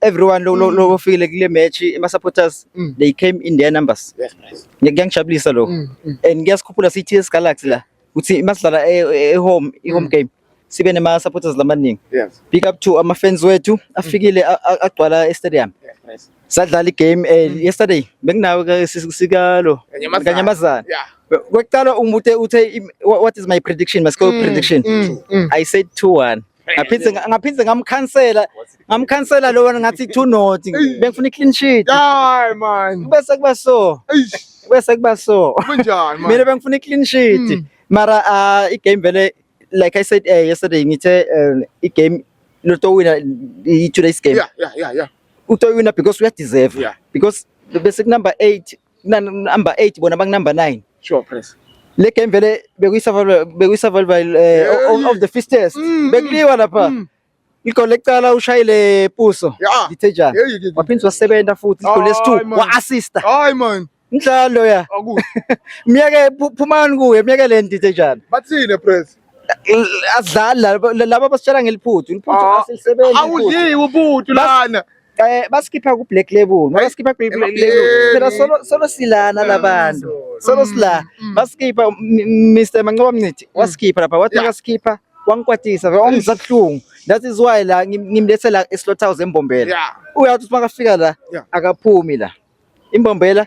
everyone lo lo Mm. lo ofile kule match ama supporters Mm. they came in their numbers That's nice. ngiyangijabulisa lo Mm, mm. and ngiyasikhuphula sithi yes Galaxy la ukuthi masidlala e e- home i home Mm. game sibe nema supporters lamaningi Yes. big up to ama fans wethu afikile a- a- agcwala e stadium That's nice. sadlala i game eh, Mm. yesterday benginawe ke si- sikalo Kanyamazana. kanyamazana Yeah. kwaqala umute uthe im- wha- what is my prediction my score Mm, prediction mm, mm. i said 2-1 ngaphinde ngaphinde ngamkhansela ngamkhansela lo wena ngathi two not bengifuna i-clean sheet hayi man bese kuba so bese kuba so kunjani man mina bengifuna i-clean sheet hmm. mara ah, i-game vele like i said eh, yesterday ngithe eh, i-game lotowina i-two days game yeah yeah yeah yeah utoyina because uyadeserve yeah. because bese kunumber 8 number 8 bona bang number 9 sure press le game vele bekuyisurvival bekuyisurvival uh, of the fittest mm, mm. bekuliwa lapha mm. igoli lecala ushayile puso ngithejana waphinde wasebenza futhi igoli lesi2 wa-assista hayi man mdlalo ya myeke phumani kuye myeke le ndithejana bathini press azidlali laba basitshela ngeliphuthu iliphuthu ah, asilisebenzi awudliwe ubuthu lana Eh basikhipha ku Black Label. Basikhipha ku Black Label. Phela solo solo silana labantu. Solo mm, sila. Mm. Basikhipha Mr Mancoba Mncithi mm. wasikhipha lapha wathi akasikhipha wangikwatisa wangizabuhlungu that is why la ngimlethe la eslothouse embombela uyathi uma kafika la akaphumi la imbombela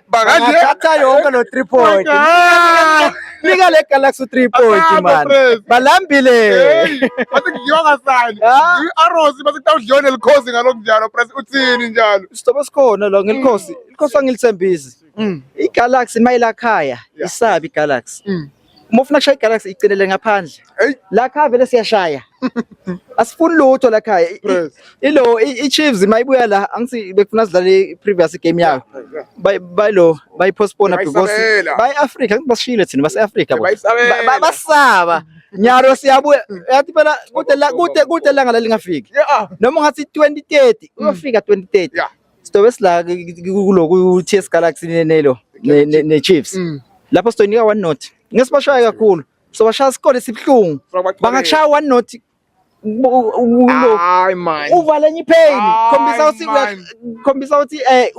Bakanje. Bathatha yonke lo 3 point. Nika le Galaxy 3 point man. Balambile. Bathi ngiyonga sani. Arrows bathi kutawudliwa nelikhosi ngalokho njalo press uthini njalo. Sitobe sikhona la ngelikhosi. Ilikhosi angilithembisi. Mm. I Galaxy mayilakhaya isabi Galaxy. Mm. uma ufuna kushaya igalaxy icelele ngaphandle la khaya vele siyashaya asifuni lutho la khaya ilo i-chiefs uma ibuya la angisi bekufuna sidlale i-previous game yayo bayilo bayipostpona because bayi-afrika angithi basishile thina base-afrika basaba nyaro siyabuya yathi phela kude langa lalingafiki noma ungathi 2030 uyofika 2030 Sitobe sila kuloku TS Galaxy nenelo ne Chiefs. Mm. Lapho sitoyinika one note. Ngesibashaya kakhulu. So bashaya isikole sibuhlungu. Bangakushaya one note hayi man uvale enye ipheli khombisa ukuthi khombisa ukuthi eh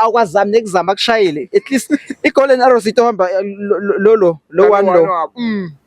awukwazami nekuzama kushayile at least igolden arrows itohamba lolo lo one lo mm.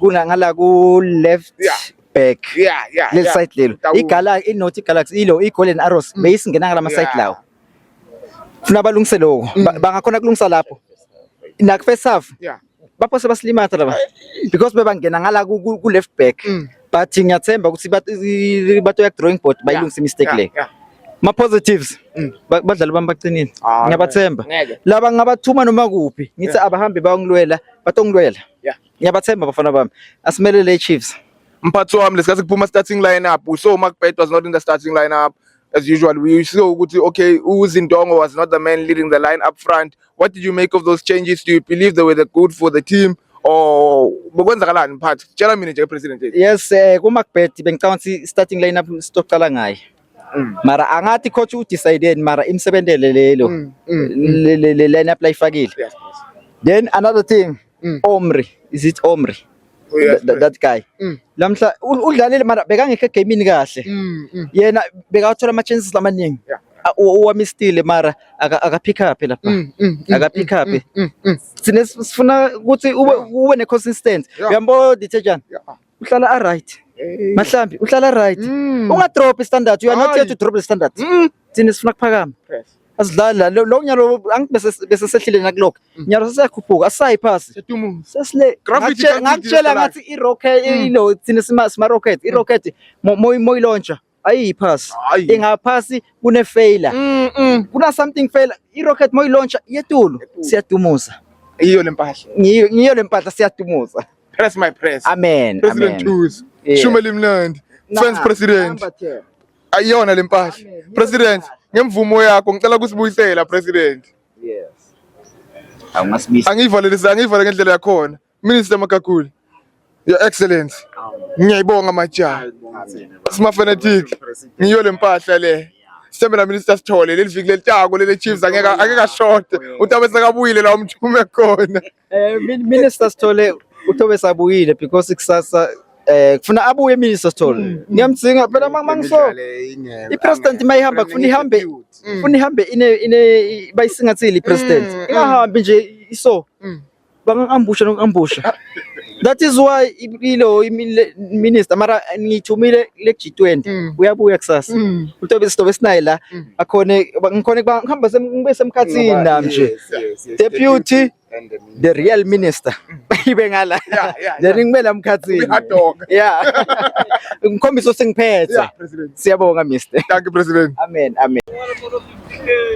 Kuna ngala ku left Yeah. back. yeah yeah Leli yeah. side lelo. Tawula. Igalaxy inothi igalaxy ilo igolden arrows beyisingena ngala ma side Yeah. lawo. Funa balungise lokho. Ba- Bangakhona kulungisa lapho. Nak first half yeah baphose basilimatha laba because bebangena ngala ku ku- ku left back. but ngiyathemba ukuthi bato ya drawing board bayilungisa mistake le ma positives mm. badlali bami baqinile ah, ngiyabathemba laba ngabathuma noma kuphi ngithi abahambe bayongilwela batongilwela ngiyabathemba bafana bami asimelele iChiefs mphathi wami lesikhathi kuphuma starting lineup we saw Mark Pet was not in the starting lineup as usual we saw ukuthi okay uZindongo was not the man leading the line up front what did you make of those changes do you believe they were the good for the team or bekwenzakalani mphathi tshela mina nje president yes eh kuma kubet bengicabanga ukuthi starting lineup sitoqala ngaye mm. mara angathi coach u decided mara imsebentele lelo mm, mm, le lineup layifakile then another thing omri is it omri That, that guy mm. lamhla udlalile mara bekangekho egamini kahle mm, mm. yena bekawathola ama chances lamaningi yeah. owamistile mara akaphikaphi lapha mm, mm, mm, akaphikaphi sine sifuna ukuthi ube ne consistency uyambo detergent uhlala a right eh. mahlambi uhlala right unga drop standard you are not here to drop the standard thina sifuna kuphakama asidlali la lo nyalo angithi bese bese sehlile nakulokho mm. nyalo sesiyakhuphuka asisayi phasi sesile ngakutshela ngathi i rocket mm. ilo thina sima sima rocket i mm. rocket moyi moyi launcher ayiyiphasi ingaphasi kune failure kuna something failure i rocket moyi launcher yetulu siyadumuza iyo lempahla ngiyo ngiyo lempahla siyadumuza press my press amen president amen. Tuzi yeah. shumeli mnandi fans president ayiyona le mpahla president ngemvumo yakho ngicela kusibuyisela president yes awungasibisa angivalelisa angivale ngendlela yakhona minister makaguli your excellence ngiyayibonga majaha sima fanatic ngiyo le mpahla le sithembela minister sithole leli viki lelitako lele chiefs angeke angeke ashode utabe sekabuyile la umthume khona Eh minister Sithole uthobe sabuyile because kusasa eh kufuna abuye minister Sithole. Mm, mm. Ngiyamdzinga phela mangiso i president mayihamba kufuna ihambe mm. kufuna ihambe ine ine bayisingathile i president. Ingahambi nje iso. Bangangambusha nokuambusha. That is why ilo minister mara ngithumile le G20 mm. uyabuya kusasa mm. utobe sitobe sinaye la mm. akhone ngikhone ngihamba ngibe semkhathini nami nje deputy the real minister ibe ngala then ngimela mkhathini yeah ngikhombisa usengiphethe siyabonga mister thank you president amen amen